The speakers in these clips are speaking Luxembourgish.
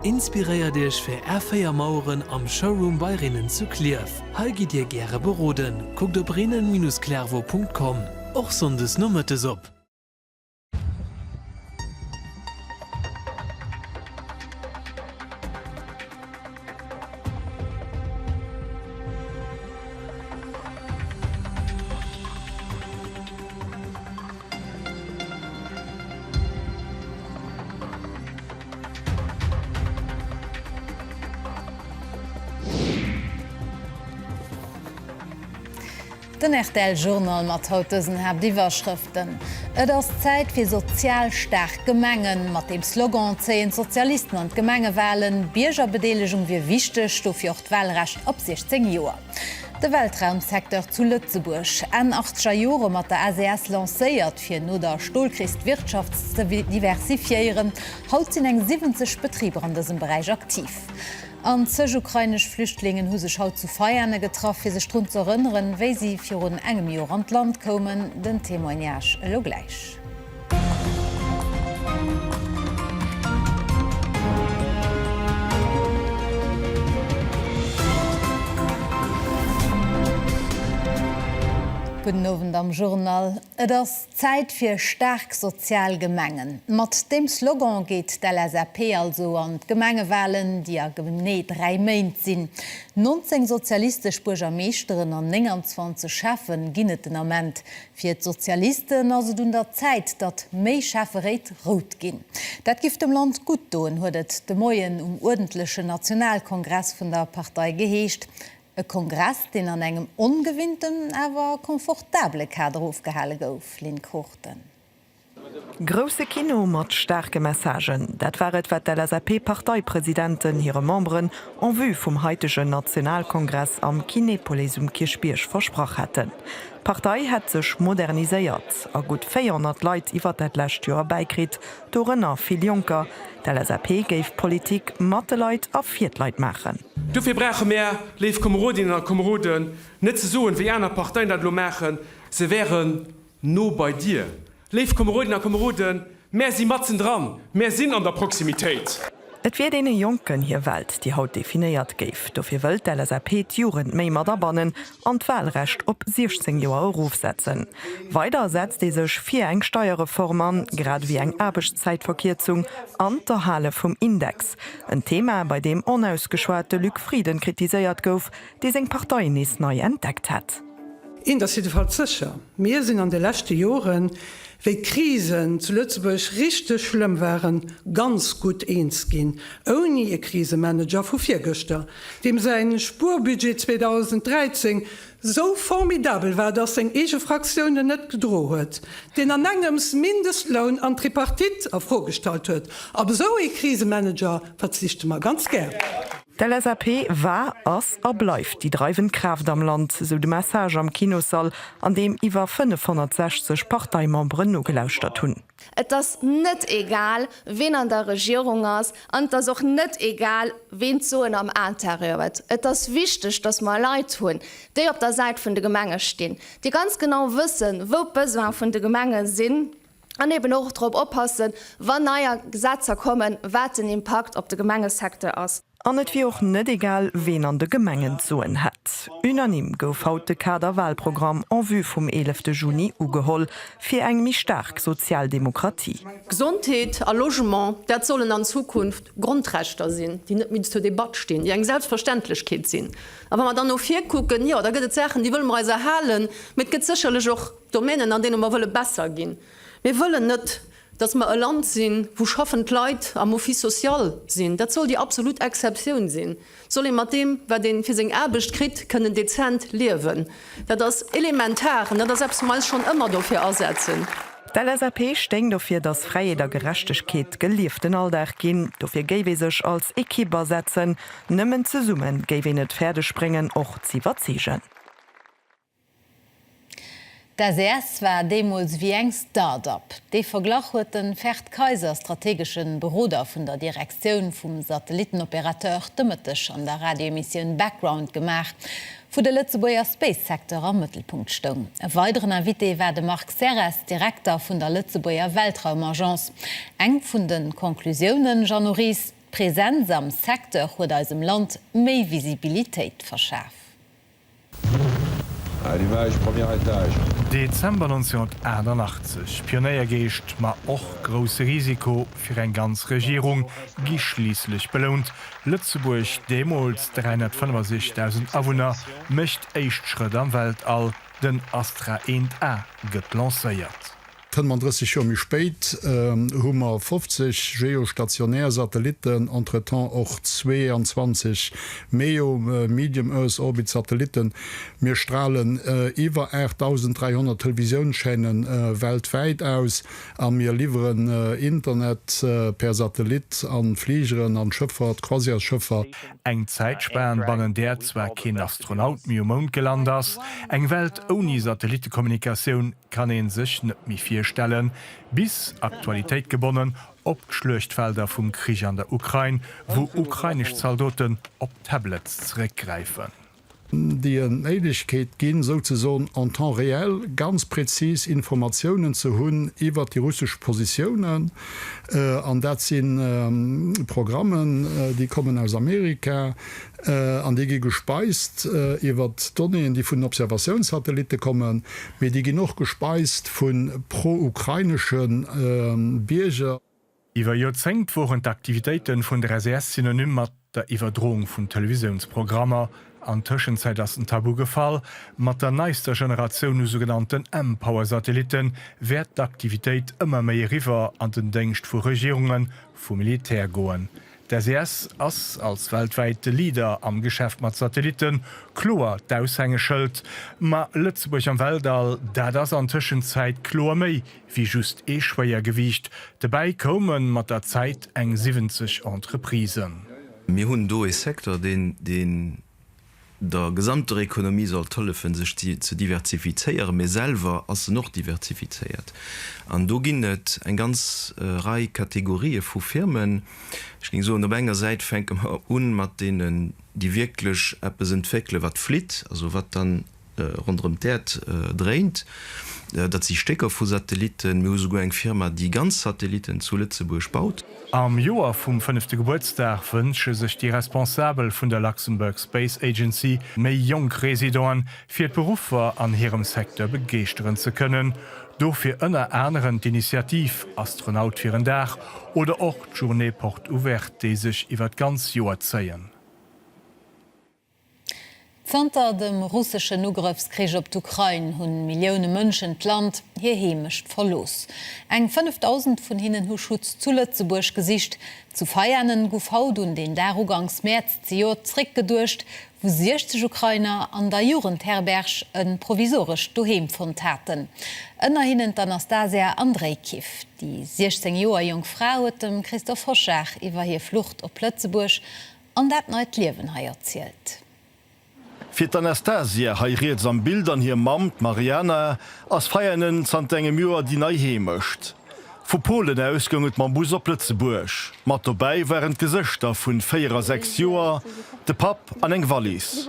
Inspiréiert Iech fir Är 4 Maueren am Showroom bei Rinnen zu Clierf. Hei gitt Dir gäre beroden. Kuckt op rinnen-clervaux.com, och sonndes nomëttes op. Den rtl Journal mat haut dësen Haaptiwwerschrëften, Et ass Zäit fir sozial staark Gemengen. Mat deem Slogan zéien d'Sozialisten an d'Gemengewalen. D'Biergerbedeelegung wier wichteg, dofir och d'Walrecht ab 16 Joer. De Weltraumsecteur zu Lëtzebuerg, Enn achtzeger Jore mat der SES lancéiert, fir no der Stolkris d'Wirtschaft ze diversifiéieren. Haut sinn eng 70 Betriber an dësem Beräich aktiv. An zeg ukrainesch Flüchtlingen hu sech haut zu Veiane getraff, fir sech drun z'erënneren, wéi si virun engem Jor an d'Land koumen. Den Témoignage elo gläich. Gudden Owend am Journal. Et ass Zäit fir staark sozial Gemengen. Mat deem Slogan geet d'LSAP also an d'Gemengewalen, déi a genee dräi Méint sinn. 19 sozialistesch Buergermeeschteren an 29 Schäffen ginn et den Ament. Fir d'Sozialisten ass et un der Zäit, datt méi Schäfferéit rout ginn. Dat giff dem Land gutt doen, huet et de Moien um uerdentlechen Nationalkongress vun der Partei geheescht. E Kongress, deen an engem ongewinnten, awer confortabele Kader ofgehale gouf, Lynn Cruchten. Grousse Kino mat staarke Messagen, dat war et wat d'LSAP-Parteipresidenten hire Memberen en vue vum haitegen Nationalkongress am Kinepolis um Kierchbierg versprach haten. D'Partei hätt sech moderniséiert a gutt 400 Leit iwwer dat lescht Joer bäikritt, dorënner vill Jonker. D'LSAP géif Politik mat de Leit a fir d'Leit maachen. Dofir brauche mär, léif Komerodinnen a Komeroden, net ze soen, wéi aner Parteien dat elo maachen, se wären, No bei dir. Léif Komeroden a Komeroden, mär si matzen dran, mär sinn an der Proximitéit. Et wier deene Jonken hir Welt, déi haut definéiert géif. Dofir wëll d'LSAP d'Jugend méi mat abannen an d'Walrecht op 16 Joer erofsetzen. Weider setzt ee sech fir eng Steierreform an, grad ewéi eng Aarbechtszäitverkierzung an d'Erhale vum Index. En Thema, bei deem onausgeschwat de Luc Frieden kritiséiert gouf, dee seng Partei nees nei entdeckt hätt. Eent ass jiddefalls sécher, Mir sinn an de leschte Joren, wéi d'Krisen zu Lëtzebuerg richteg schlëmm waren, ganz gutt eens ginn, ouni e Krisemanager vu virgëschter, deem säi Spuerbudget 2013 sou formidabel war, datt seng eege Fraktioun en net gedro huet, deen an engems Mindestloun an d'Tripartite a Fro gestallt huet. Op esou ee Krisemanager verzichte mer ganz gär. D'LSAP war, ass a bleift déi dreiwend Kraaft am Land, sou de Message am Kinossall, an deem iwwer 560 Parteimemberen nogelauschtert hunn. Et ass net egal, wien an der Regierung ass, an et ass och net egal, ween d'Soen am Interieur huet. Et ass wichteg, dass mer Leit hunn, déi op der Säit vun de Gemenge stinn, déi ganz genau wëssen, wou d'Besoine vun de Gemenge sinn, An eben och drop oppassen, wann neier Gesetzer kommen, wat den Impakt op de Gemengesecteur ass. An et wier och net egal, ween an de Gemengen d'Soen hätt. Unanime gouf haut de Kader-Wahlprogramm en vue vum eelefte Juni ugeholl, fir eng méi staark sozial Demokratie. Gesondheet a Logement, dat sollen an Zukunft Grondrechter sinn, déi net méi zur Debatt stinn, déi eng Selbstverständlechkeet sinn. A wa mer dann no vir kucken, jo, da gëtt et Saachen, déi wëlle mer eis erhalen, mee et gëtt sécherlech och. Domänen, an deene mer wëlle besser ginn. Mir wëllen net, dass mer e Land sinn, wou schaffend Leit am Office social sinn. Dat soll déi absolut Exceptioun sinn. Et soll ee mat deem, wat ee fir seng Aarbecht kritt, kënnen dezent liewen. Dat ass elementar an dat ass eppes, wou mer eis schonn ëmmer dofir asetzen. D'LSAP stéing dofir, dass Fräiheet a Gerechtegkeet gelieften Alldag ginn. Dofir géif ee sech als Ekipp asetzen. Nëmmen zesumme géif een et fäerdeg bréngen, och z'iwwerzeegen. D'SES war deemools wéi eng Start-Up. Dee Verglach huet de Ferd Kayser, strategesche Beroder vun der Direktioun vum Satellittenopérateur, de Mëtteg an der Radioemissioun Background gemaach, wou de Lëtzebuerger Space-Secteur am Mëttelpunkt stoung. E weideren Invité war de Marc Serres, Direkter vun der Lëtzebuerger Weltraumagence. Eng vun de Conclusiounen, Jeannot Ries, D'Presenz am Secteur huet eisem Land méi Visibilitéit verschaf. Dezember 1988, Pionéiergeescht, ma och grousse Risiko fir eng ganz Regierung, gi schliisslech belount, Lëtzebuerg, deemools 365.000 Awunner, mécht éischt Schrëtt am Weltall, den Astra 1A gëtt lancéiert. Kënnt man 30 Joer méi spéit, hu mer 50 geostationär Satellitten, entretemps och 22 MEO, Medium Earth Orbit, Satellitten. Mir stralen iwwer 8.300 Televisiounschaînen weltwäit aus a mir liwweren Internet per Satellit an Fligeren, an Schëffert, Croisièresschëffer. Eng Zäitspaan, bannen där zwar keen Astronaut méi um Mound gelant ass, eng Welt ouni Satellittekommunikatioun, kann een sech net méi virstellen, bis, Aktualitéit gebonnen, op d'Schluechtfelder vum Krich an der Ukrain, wou ukrainesch Zaldoten op Tablets zeréckgräifen. déi en d'Méiglechkeet ginn, souzesoen en temps réel ganz präzis Informatiounen ze hunn iwwert déi russesch Positiounen. An dat si Programmen, déi kommen aus Amerika, An déi gi gespeist iwwer Donnéeën, déi vun den Observatiounssatellitte kommen, mee déi ginn och gespeist vu pro-ukrainesche Bierger. Iwwer Joerzéngt woren d'Aktivitéite vun der SAS synonym mat der Iwwerdroung vun Televisiounsprogrammer. An Tëschenzäit ass den Tabu gefall. Mat der neister Generatioun u sougenannten M-Power-Satellitte wäert d'Aktivitéit ëmmer méi eriwwer an den Déngscht vu Regierungen, vum Militär goen. D'SES ass als weltwäite Leader am Geschäft mat Satellitten kloer d'Aushängeschëld. Ma Lëtzebuerg am Weltall, dat ass an Tëschenzäit kloer méi wéi just ee Schwéiergewiicht. Dobäi koume mat der Zäit eng 70 Entreprisen. Mir hunn do ee Secteur, deen der gesamter Ekonomie sollt hëllefen, sech ze diversifizéieren, mee selwer ass en och diversifizéiert. An do ginn et eng ganz Rei Kategorië vu Firmen. Ech géing soen, op enger Säit fänke mer u mat deenen, déi wierklech eppes entwéckelen, wat flitt, also wat dann ronderëm d'Äerd dréint. Dat si Stécker vu Satellitten. Mir hu souguer eng Firma, déi ganz Satellitten zu Lëtzebuerg baut. Am Joer vum fënnefte Gebuertsdag wënsche sech déi Responsabel vun der Luxembourg Space Agency, méi jonk Residenten fir d'Beruffer an hirem Secteur begeeschteren ze kënnen. Dofir ënner anerem d'Initiativ Astronaut fir en Dag oder och d'Journée Porte Ouverte, déi sech iwwer d'ganz Joer zéien. Zanter dem russeschen Ugrëffskrich op d'Ukrain hunn Millioune Mënschen d'Land, hir Heemecht verlooss. Eng 5.000 vun hinnen hu Schutz zu Lëtzebuerg gesicht. Zu Veianen gouf haut un deen Dag uganks Mäerz zejoert zréck geduecht, wou 60 Ukrainer an der Jugendherberg e provisorescht Doheem fonnt haten. Ënner hinnen d'Anastasia Andrejkiw. Déi 16 Joer jonk Fra huet dem Christoph Hoschar iwwer hir Flucht op Lëtzebuerg An dat neit Liewen hei erzielt. Fir d'Anastasia, hei riets am Bild, an hir Mamm, d'Mariana, ass Veianen zanter engem Joer déi nei Heemecht. Vu Polen aus goung et mam Bus op Lëtzebuerg. Mat dobäi waren d'Gesëschter vu 4 a 6 Joer, de Papp an eng Wallis.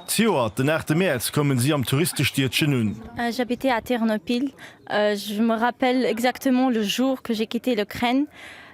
Zejoert den 8 Mäerz koumen si am Touristestiedchen un. J'habitais à Ternopil, je me rappelle exactement le jour que j'ai quitté l'Ukraine.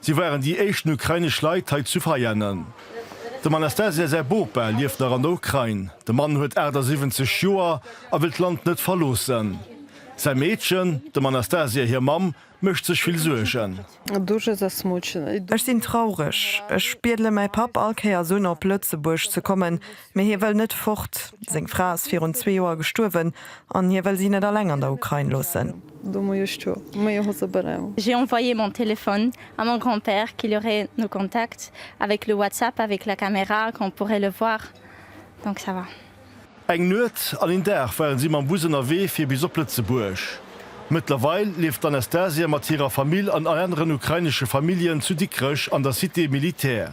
Si waren déi éischten ukrainesch Leit hei zu Veianen. Dem Anastasia säi Bopa lieft nach an der Ukrain. De Mann huet 78 Joer a wëll d'Land net verloossen. Säi Meedchen, dem Anastasia hir Mamm, mécht sech vill Suergen. Ech sinn traureg. Ech biedele mäi Papp all Kéiers un, op Lëtzebuerg ze kommen, Mee hie wëll net fort. Seng Fra ass virun zwee Joer gestuerwen an hie wëll si net alleng an der Ukrain loossen. J'ai envoyé mon téléphone à mon grand-père qu'il aurait nos contacts avec le WhatsApp avec la caméra qu'on pourrait le voir donc ça va. Eng Nuet an een Dag ware si mam Bus ënnerwee fir bis op Lëtzebuerg. Mëttlerweil lieft d'Anastasia mat hirer Famill an aneren ukrainesche Familljen zu Dikrech an der Cité militaire.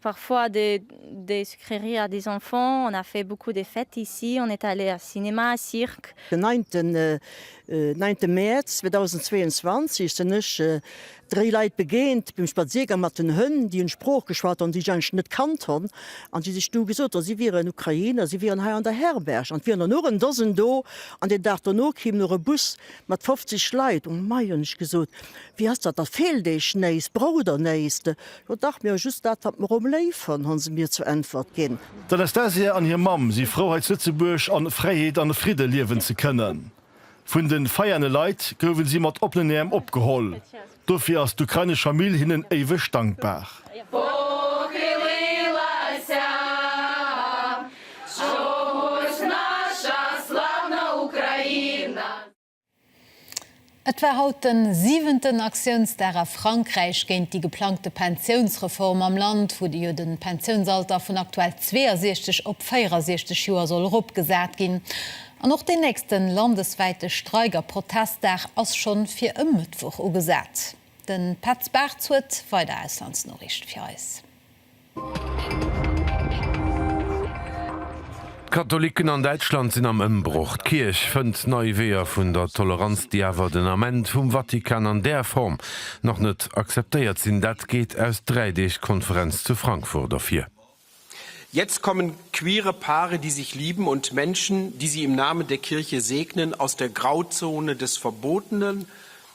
Parfois des sucreries à des enfants, on a fait beaucoup des fêtes ici, on est allé à cinéma, cirque. Den 9 9 Mäerz 2022 sen ech 3 Leit begeent beim Spaziergang mat den Hënn, déi en Sprooch geschwat han, déi ech eigentlech net kannt han, an déi sech du gesot han, si wieren Ukrainer, si wieren hei an der Herberg, an et wier der nur en Dosen do, an den Dag dono kim nur e Bus mat 50 Leit. Oh mei, hun ech gesot, wéi ass dat, da feelt eech néiss, braucht der néiss? O dach, mir hu just dat, wat mer om léif hunn, hu se mir zur Äntwert ginn. D'Anastasia an hir Mamm si frou, hei zu Lëtzebuerg an Fräiheet an Fridde liewen ze kënnen. Vun de Veiane Leit gouwen si mat oppenen Äerm opgeholl. Dofir ass d'ukrainesch Famill hinnen éiweg dankbar. Et war haut den siwenten Aktiounsdag a Frankräich géint déi geplangte Pensiounsreform am Land, wou jo de Pensiounsalter vun aktuell 62 op 64 Joer soll eropgesat ginn. An och deen nächste landeswäite Streik a Protestdag ass scho fir e Mëttwoch ugesat. De Petz Bartz huet weider Auslandsnoriichte fir eis. D'Katholicken an Däitschland sinn am Ëmbroch. D'Kierch fënnt nei Weeër vun der Toleranz, déi awer den Ament vum Vatikan an där Form nach net akzeptéiert sinn. Dat geet aus dräi Deeg Konferenz zu Frankfurt ervir. Jetzt kommen queere Paare, die sich lieben und Menschen, die sie im Namen der Kirche segnen, aus der Grauzone des Verbotenen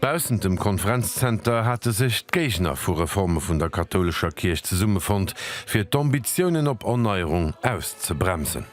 Baussent dem Konferenzzenter hate sech d'Géigner vu Reforme vun der kathoulescher Kierch zesummefonnt, fir d'Ambitiounen op Erneierung auszebremsen.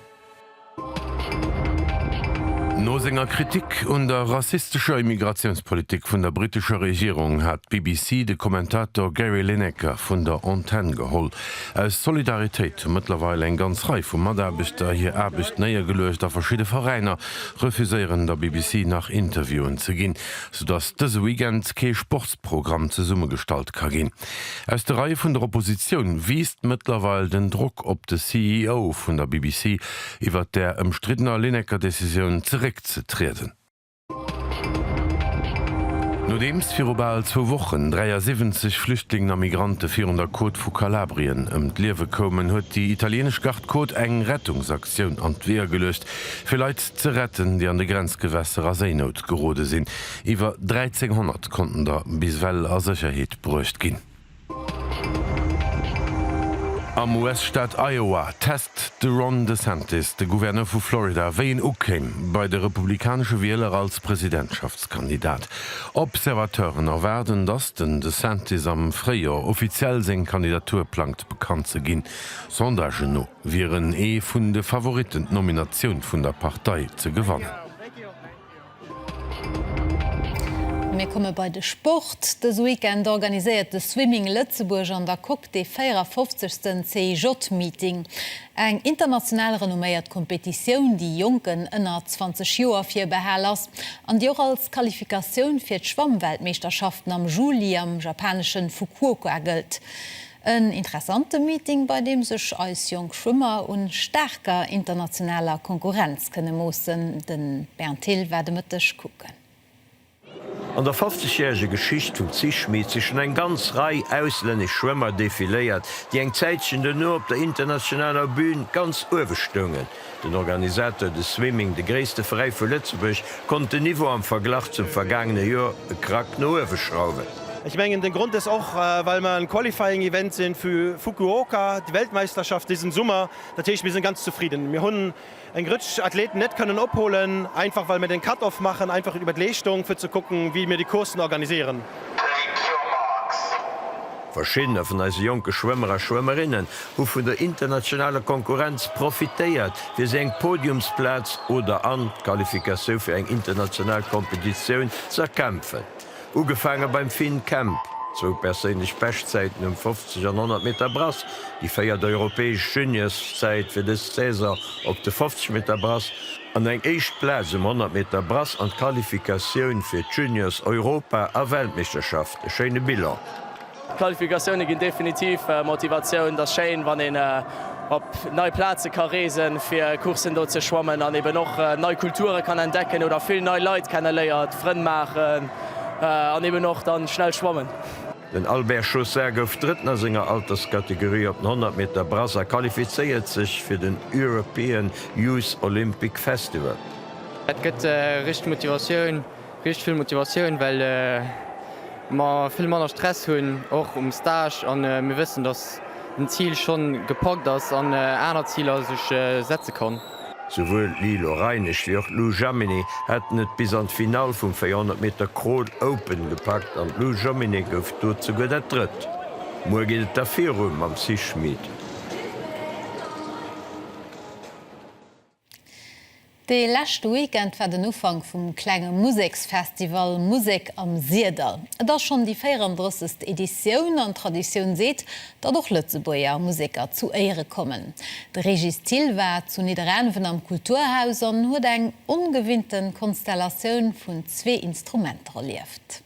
No senger Kritik un der rassistescher Immigratiounspolitik vun der brittescher Regierung hat d'BBC de Kommentator Gary Lineker vun der Antenn geholl. Aus Solidaritéit hu mëttlerweil eng ganz Rei vu Mataarbechter hir Aarbecht néiergeluecht a verschidde Veräiner refuséieren der BBC nach Interviewen ze ginn, soudass dëse Weekend kee Sportsprogramm zesummegestallt ka ginn. Aus de Reie vun der Oppositioun wiisst mëttlerweil den Drock op de CEO vun der BBC, iwwert där ëmstriddener Lineker-Decisioun zeréckzetrieden. Nodeems viru bal zwou Wochen 73 Flüchtlingen a Migrante virun der Côte vu Kalabrien ëm d'Liewe koumen, huet déi italieenesch Garde-Côte eng Rettungsaktioun an d'Weeër geluecht, Fir Leit ze retten, déi an de Grenzgewässer a Séinout gerode sinn. Iwwer 1.300 konnten der bis well a Sécherheet bruecht ginn. Am US-Staat Iowa test de Ron DeSantis, de Gouverneur vu Florida, wéi en ukéim bei de republikanesche Wieler als Presidentschaftskandidat. Observateuren erwaarden, datt den DeSantis am Fréijoer offiziell seng Kandidatur plangt bekannt ze ginn, Sondagen no. wier en ee vun de Favoritten d'Nominatioun vun der Partei ze gewannen. Mir komme bei de Sport. Dëse Weekend organiséiert de Swimming Lëtzebuerg an der Coque dee 54. CIJ Meeting. Eng international renomméiert Competitioun, déi Jonken ënner 20 Joer virbehal ass an déi och als Qualifikatioun fir d'Schwammweltmeeschterschaften am Juli am japanesche Fukuoka gëllt. En interessante Meeting, bei deem sech eis jonk Schwëmmer u staarker internationaler Konkurrenz kënne moossen. De Bernd Thill war de Mëtteg kucken. An der 50 järege Geschicht vum Zich Meet si schonn eng ganz Rei auslännesch Schwëmmer defiléiert, déi eng Zäitchen duerno op der internationaler Bün ganz uewe stoungen. Den Organisateur, de Swimming, de gréisste Veräi vu Lëtzebuerg, konnt den Niveau am Verglach zum vergaangene Joer e Krack no uewe schrauwen. Ech mengen den Grond ass och well mer en Qualifying Event sinn vu Fukuoka, déi Weltmeisterschaft disen Summer. Dat heescht mir sinn ganz zefridden. Mir hunn eng Rëtsch Athleten net kënnen opholen einfach well mir den Cut off maachen einfach iwwer d'Leeschtung fir ze kucken wéi mir déi Coursen organiséieren. Verschiddener vun eise jonke Schwëmmer a Schwëmmerinnen hu vun der internationaler Konkurrenz profitéiert, fir si eng Podiumsplaz oder an d'Qualifikatioun fir eng international Kompetitioun z'erkämpfen. Ugefaange beim Finn Kemp, zwou perséinlech Beschtzäiten um 50 an 100 Meter Brass, déi véiert europäesch Juniorszäit fir dës Saison op de 50 Meter Brass an eng éischt Plaz um 100 Meter Brass an d'Qualifikatioun fir d'Juniors-Europa a Weltmeeschterschaft. E schéine Bilan. D'Qualifikatioune ginn definitiv Motivatioun. Et ass schéin, wann een op nei Plaze ka reesen, fir Courssen do ze schwammen an eben och nei Kulture kann entdecken oder vill nei Leit kenneléiert, Frënn maachen an eben och da schnell schwammen. Den Albert Chaussard gouf Drëtten a senger Alterskategorie op den 100 Meter Brass a qualifizéiert sech fir den European Youth Olympic Festival. Et gëtt richteg Motivatioun. Richteg vill Motivatioun, well mer vill manner Stress hunn, och um Stage, an mir wëssen, dass den Zil schonn gepackt ass an aner Ziler sech setze kann. Souwuel d'Lilo Reinisch wéi och d'Lou Jaminet haten et bis an d'Finall vum 400 Meter Crawl Open gepackt an d'Lou Jaminet gouf do souguer dat Drëtt. Muer geet et da viru mam Sis Schmid. De leschte Weekend war den Ufank vum klenge Museksfestival Musek am Sirdall. Et ass schonn déi 34. Editioun an d'Traditioun seet, datt och Lëtzebuerger Museker zu Éiere kommen. De Régis Thill war zu Nidderaanwen am Kulturhaus an huet eng ongewinnte Konstellatioun vun zwee Instrumenter erlieft.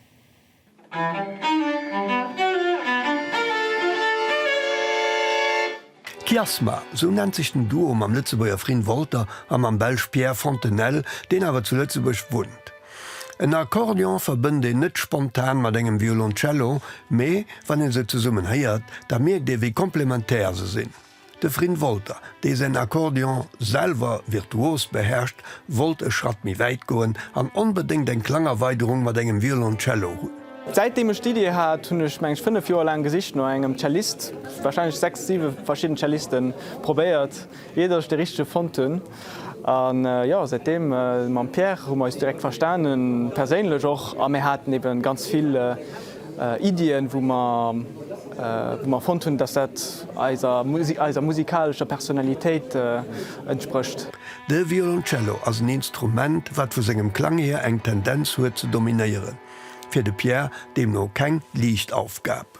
Kiasma, sou nennt sech den Duo mam Lëtzebuerger Frin Wolter a mam Belsch Pierre Fontenelle, deen awer zu Lëtzebuerg wunnt. En Akkordeon verbënnt een net spontan mat engem Violoncello, mee wann ee se zesummen héiert, da mierkt ee wéi komplementär se sinn. De Frin Wolter, dee säin Akkordeon selwer virtuos beherrscht, wollt e Schratt méi wäit goen an onbedéngt eng Klangerweiderung mat engem Violoncello hunn. Säitdeem ech d'Iddi hat, hunn ech, mengen ech, fënnef Joer laang gesicht no engem Cellist, warscheinlech sechs, siwe verschidden Cellisten probéiert, iert ech de richtege fonnt hunn. A jo, säitdeem, mam Pierre hu mer eis direkt verstanen, perséinlech och, a mir haten ebe ganz vill Iddien, wou mer, wou mer fonnt hunn, dass dat eiser, eiser musikalescher Personalitéit entsprécht. De Violoncello ass en Instrument, wat vu sengem Klang hier eng Tendenz huet ze dominéieren. Fir de Pierre deemno keng liicht Aufgab.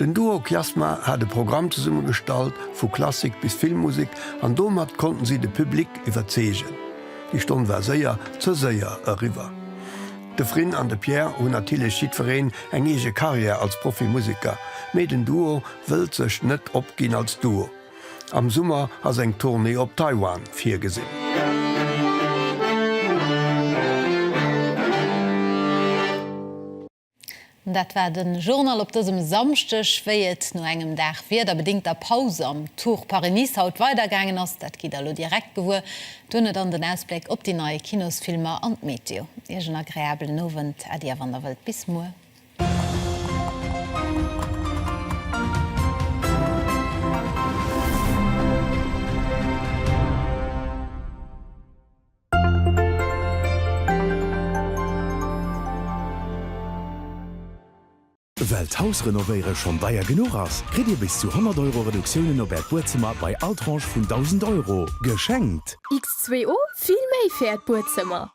Den Duo Kiasma hat e Programm zesumme gestallt, vu Klassik bis Filmmusek an domat konnten si de Public iwwerzeegen. Déi Stonn war séier ze séier eriwwer. De Frin an de Pierre hunn natierlech jiddwereen eng eege Karriär als Profimuseker, mee den Duo wëllt sech net opginn als Duo. Am Summer ass eng Tournée op Taiwan virgesinn. Dat war de Journal op dësem Samschdeg. Wéi et no engem Dag wiederbedingter Paus am Tour Paris-Nice haut weidergaangen ass, dat gitt der elo direkt gewuer. Duerno dann den Ausbléck op déi nei Kinosfilmer an d'Meteo. Iech en agreabelen Owend, Äddi a wann der wëllt, bis muer. Well d'Hausrenovéiere schonn deier genuch ass, kritt Dir bis zu 100 Euro Reduktiounen op Äert Buedzëmmer bei all Tranche vun 1.000 Euro geschenkt. X2O, Vill méi fir Äert Buedzëmmer!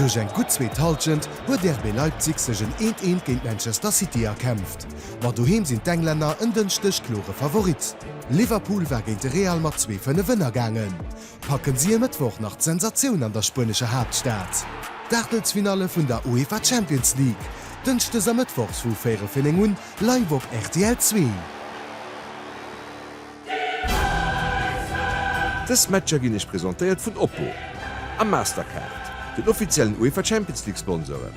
Duerch eng gutt zweet Hallschent huet RB Leipzig sech en 'Eent, Eent' géint Manchester City erkämpft, ma doheem sinn d'Englänner en Dënschdeg klore Favorit. Liverpool war géint de Real mat zwee Fënnef ënnergaangen. Packen si e Mëttwoch nach d'Sensatioun an der spuenescher Haaptstad? D'Aachtelsfinalle vun der UEFA Champions League, dënschdes a mëttwochs vu véierel fir néng un, live op rtl Zwee. Dës Matcher ginn iech presentéiert vun Oppo a Mastercard, den offiziellen UEFA Champions League Sponsoren.